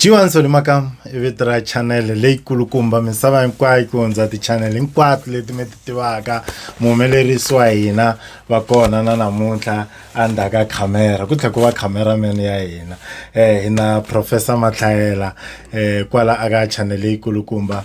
jiwani solimaka i vito ra chanele leyikulukumba misava hinkwayo ku hundza tichanele hinkwato leti mi ti tivaka muhumelerisi wa hina va kona na namuntlha endzhaku ka khamera ku tlhela ku va khameraman ya hina um hi na professor matlhayela um kwala aka chanele leyikulukumba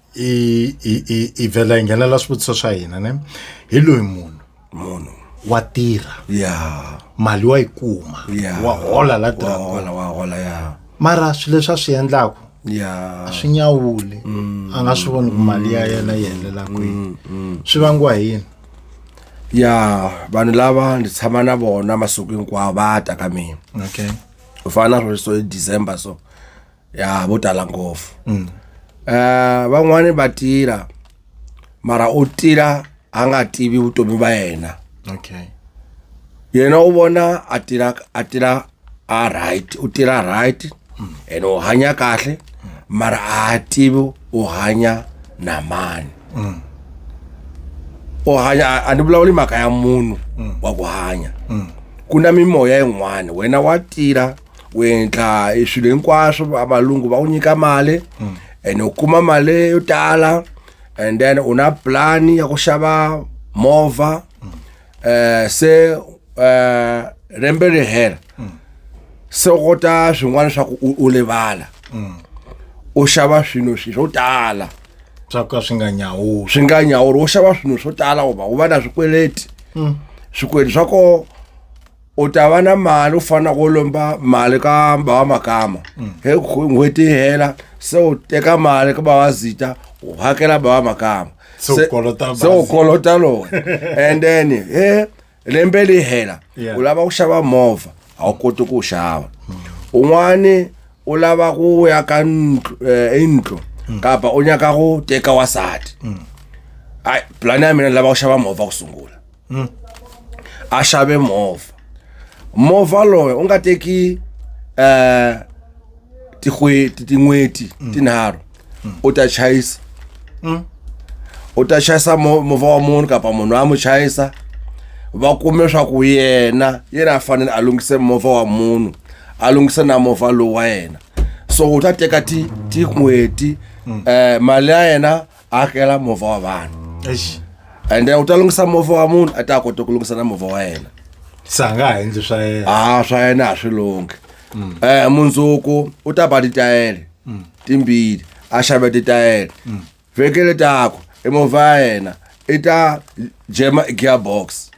i i i i vhela hi nghenela swivutiso swa hina ne hi loyi munhu munhu wa tirha ya mali wa yi kuma ya wa hola la wa tirhaka hola wa hola ya mara swilo leswi a swi endlaka ya a swi nyawuli a nga swi voni ku mali ya yena yi helela kwini swi vangiwa hi yini ya vanhu lava ndzi tshama na vona masiku hinkwawo va ta ka mina okay ku fana na sweswo hi december so ya vo tala ngopfu um van'wani va tila mara u tila a nga tivi vutomi va yena okay yena u vona a tila a tila a right u tila right and u hanya kahle mara a tivi u hanya na mani u hanya a- a ni vulavuli mhaka ya munhu wa ku hanya ku na mimoya yin'wana wena wa tila u endla e swilo hinkwaswo va- valungu va ku nyika mali and u kuma mali yo tala and then u na plan ya ku xava movha eh se eh rembe ri hela se u kota swin'wana swa ku u- u livala u xava swilo swi swo tala swa ka swi nga nyawuli swi nga nyawuri wo xava swilo swo tala u va u va na swikweleti swikweleti swa ko u ta va na mali u fana ku lomba mali ka bava makama mm. he n'hweti yi hela se u teka mali ka bava zita u hakela bava makama se u kolota lowu and then he lembe li hela u lava ku xava movha a wu koti ku wu xava mm. un'wani u lava ku ya ka eh, indlu mm. kapa u nyaka ku teka wasati ayi pulani ya mina ni lava ku xava movha ku sungula a xave movha movha loyi u nga teki eh tin'hweti tin'hweti tinharhu u ta chayisa u ta chayisa mo- movha wa munhu kapa munhu a mu chayisa va kume swaku yena yena a fanele a lunghise movha wa munhu a lunghise na movha lowu wa yena so u ta teka ti tin'hweti eh mali ya yena akela movha wa vanhu Eish. and then u ta lunghisa movha wa munhu a ta kota ku lunghisa na movha wa yena se a nga ha endli swa yena a swa yena a swi lunghi um mundzuku u ta ba titayele timbili a xave titayele vheke le taku i movha ya yena i ta jema i gearbox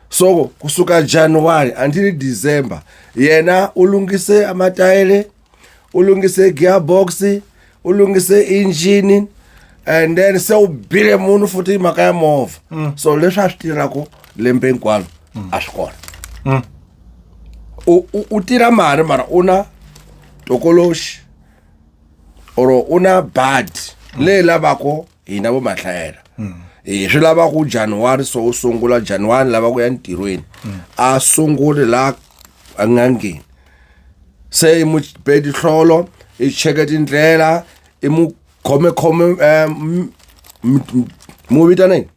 so kusuka januwari until december yena u lunghise amatayele u lunghise gearbox u lunghise engine and then se u bile munhu futhi hi mhaka ya movha so leswi a swi tirhaku lembe hinkwalo a swi kona Mm. u u- u tirha mali mara u na tokoloxi or u na bad leyi lavako hina vo mahlayela hi swi lavaku januwari so u sungula januwari lava ku ya ntirhweni a sunguli la a nga ngheni se i mu be dihlolo i cheke tindlela i mu khomekhome um mu vitaneni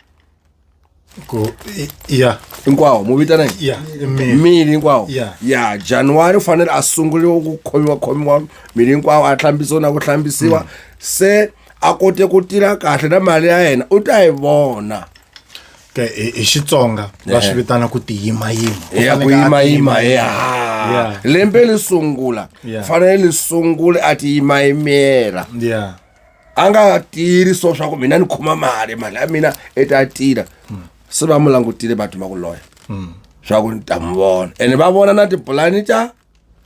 Ku- i- ya hinkwawo mu vitaneni ya i miri. miri hinkwawo Yeah. ya januwari u fanele a sunguriwa ku khomiwakhomiwa miri hinkwawo a hlambisiwa na ku hlambisiwa se a kote ku tirha kahle na mali ya yena u ta yi vona hi xitsonga va swi vitana ku tiyimayima ku yimayima ya lembe li sungula fanele li sungule a ti yimayimela a nga tiri so swa ku mina ni khoma mali mali ya mina i ta tira hmm. se va mu langutile va tuma ku loya hmm. swa ku ni ta mu vona ene va vona na tipulani ta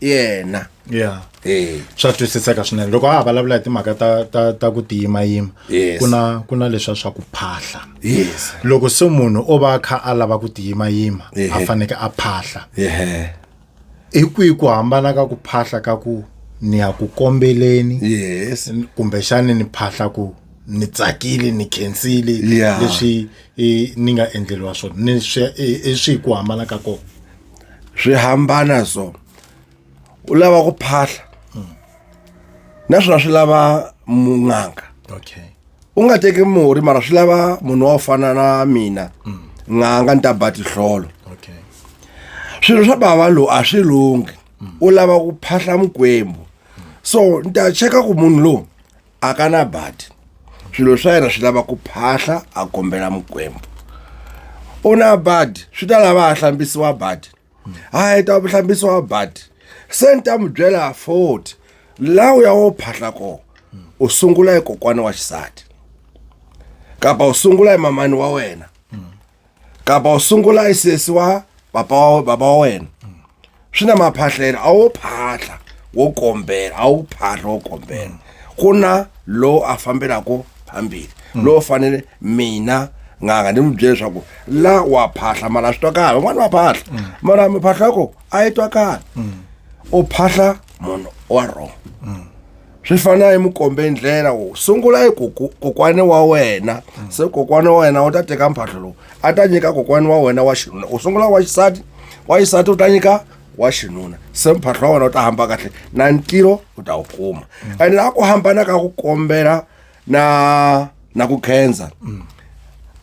yena yeah eh swa twisiseka swinene loko a ha vulavula hi timhaka ta ta ta ku tiyimayima Yes. ku na ku na leswa swa ku phahla yes loko se munhu o va a kha a lava ku tiyimayima a Ehe. faneke a phahla yeah hi kwihi ku hambana ka ku phahla ka ku ni ya ku kombeleni yes kumbexani ni phahla ku ni tsakile ni khensile Yeah. leswi eh, ni nga endleriwa swona ni swi eh, eh, swi hi ku hambana ka kona swi hambana so u lava ku phahla naswona swi lava mun'anga okay u nga teki murhi mara swi lava munhu wa ku fana na mina n'anga ni ta ba tihlolo okay swilo swa bava lowu a swi lunghi u lava ku phahla mukwembu so ni ta cheka ku munhu lowu a ka na badi swilo swa yena swi lava ku phahla a kombela mukwembu u na badi swi ta lava a hlambisiwa badi a heta ku hlambisiwa badi se ni ta mu byela forty la u ya wo phahla kona u sungula hi kokwana wa xisati kapa u sungula hi mamani wa wena kapa u sungula i sesiwa papa wa baba wa wena swi na maphahlelo a wo phahla wo kombela a wu phahla wo kombela ku na lowu a fambelaka phambili lowu fanele mina nganga ni n'wi byele leswaku la wa phahla mara a swi twakali van'wana va phahla mara miphahla yako a yi twakali u phahla munhu wa wrong swi fana hi mukombe ndlela wo sungula hi kokwani wa wena se kokwani wa wena u ta teka mphahlo lowu a ta nyika kokwani wa wena wa xinuna u sungula wa xisati wa xisati u ta nyika wa xinuna se mphahlo wa wena u ta hamba kahle na ntirho u ta wu kuma and laha ku hambana ka ku kombela na na ku khensa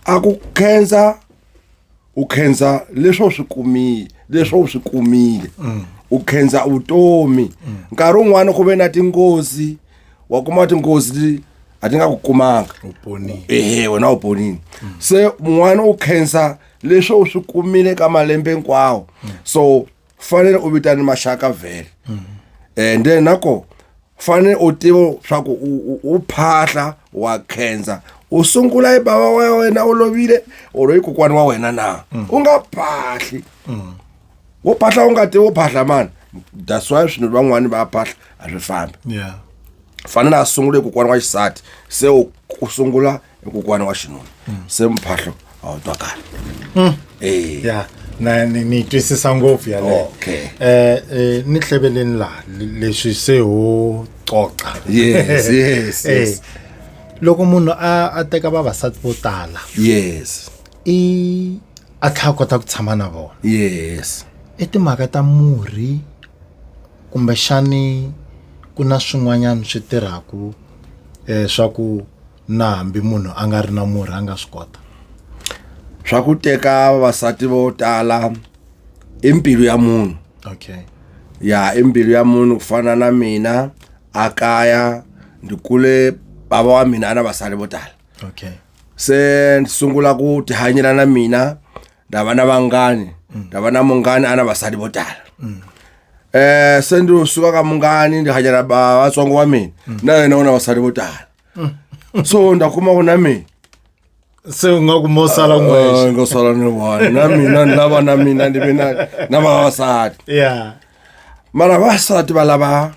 a ku khensa u khensa leswi u swi kumile leswi u swi kumile mm. u khensa vutomi mm. nkarhi wun'wana ku ve na tinghozi wa kuma tinghozi a ti nga ku kumanga ehe wena u ponile mm. se mun'wana u khensa leswi u swi kumile ka malembe hinkwawo so fanele u vitane maxaka vhele mm. and then nako fanele u tiva swa ku u phahla wa khensa u sungula hi bava wa wena u lovile or i kokwani wa wena na mm. u nga phahli mm. wo phahla u nga tivi wo phahla mani that's why swinhu van'wani va phahla a swi fambi fanele a sungule kokwani wa xisati se u sungula i kokwana wa xinuna se mphahlo a wu twakali Hmm. Eh. ya na ni ni yi twisisa ngopfu yaleyo Okay. eh eh, ni hleveleni laha le- leswi se ho coca Yes, yes, Eh, yes. loko munhu a a teka vavasati vo tala yes i a tlhela a kota ku tshama na vona yes i timhaka ta murhi kumbexani ku na swin'wanyana swi tirhaku um swa ku na hambi munhu a nga ri na murhi a nga swi kota swa ku teka vavasati vo tala i mbilu ya munhu okay ya i mbilu ya munhu ku fana na mina a kaya ndzi kule bava wa mina a na vasali vo tala okay se ndzi sungula ku tihanyela na mina ndza va na vanghani mm. ndza va na munghani a na vasali vo tala mm. eh se ndzi suka ka munghani ndzi hanyela vatsongo wa mina mm. na yena u na vasali vo tala so ndakuma ku na mina se u nga ku mo sala n'wexe ngo sala ni one na mina ni lava na mina ni ve na na vavasati ya mara vavasati va lava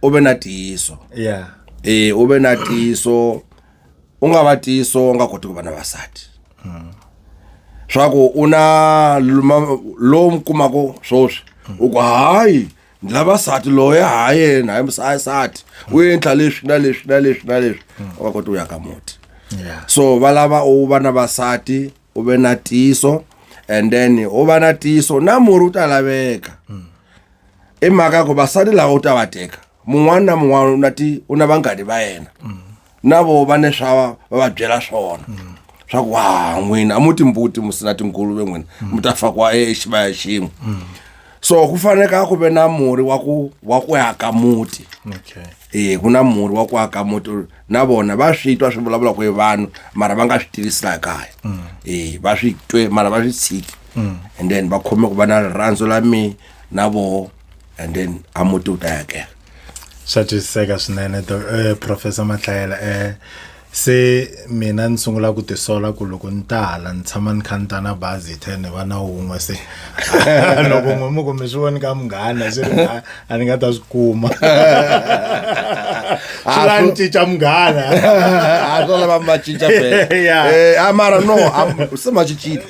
u ve na tiyiso ya e u ve na tiyiso u nga va tiyiso u nga koti ku va na vasati swa ku u na luma- lowu mi kumako swoswi u ku hayi lavasati loyi ha yena hayimusayisati u endla leswi na leswi na leswi na leswi u va koti u ya ka muti so va lava u va na vasati u ve na tiso and then u va na tiso na murhi u ta laveka i mhaka ku vasati lava u ta va teka mun'wana na mun'wana u na ti u na vanghani va yena na vo va ne swa va va byela swona swa ku ha n'wina a mu timbuti mu sina tinguluve n'wina mi ta fakiwa exivaya xin'we so ku faneka ku ve na murhi wa ku wa ku aka muti okay e ku na murhi wa ku aka muti na vona va swi twa swi vulavula ku hi vanhu mara va nga swi tivisi laha kaya e va swi twe mara va swi tshiki and then va khome ku va na rirhandzu la me na voho and then a muti wu ta yakela swa twisiseka swinene eh, professor mahlayela um eh, se mina ni sungula ku tisola ku loko ni ta hala ni tshama ni kha ni ta na bazi te ni va na wun'we se loko n'we mu kumbe swi voni ka munghana swi ri a ni nga ta swi kuma swi la ni cinca munghana a swo lava ma cinca eh, a mara no se ma cincile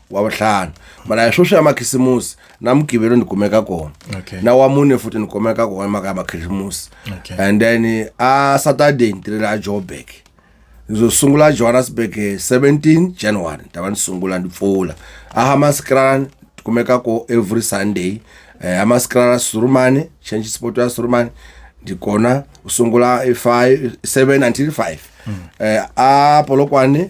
wa vuhlanu mara hi sweswi ya makhisimusi na mugivelo ni kumeka kona Okay. na wa mune futhi ni kumeka kona mhaka ya makhisimusi Okay. and then a saturday ni tirhela a joburg ngizosungula ejohannesburg eh, 17 january ndaba ni sungula ni pfula ahamaskrala ni kumeka ko every sunday eh, amaskrala surumane change sport ya surumane ndi kona usungula 5 7 until 5 eh, a polokwane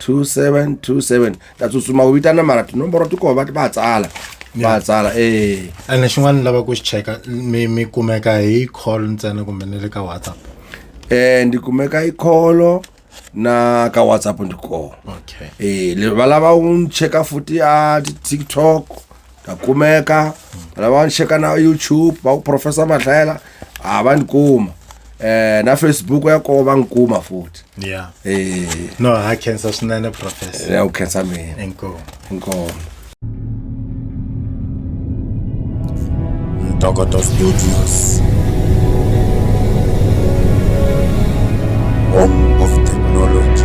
2727 ta tsutsuma u vitana mara tinomboro ti koho va va tsala va tsala eh and xin'wana ni lava ku xi cheka mi mi kumeka hi call ntsena kumbe ni le ka whatsapp eh ndi kumeka hi call na ka whatsapp ndi koho okay eh le va lava u cheka futhi a tiktok ta kumeka lava ni cheka na youtube va ku professor madlayela a va ni kuma eh na facebook ya kona va ni kuma futhi yeah eh no ha khensa swinene professor ya u khensa mina inkomo inkomo ntokoto studios home of technology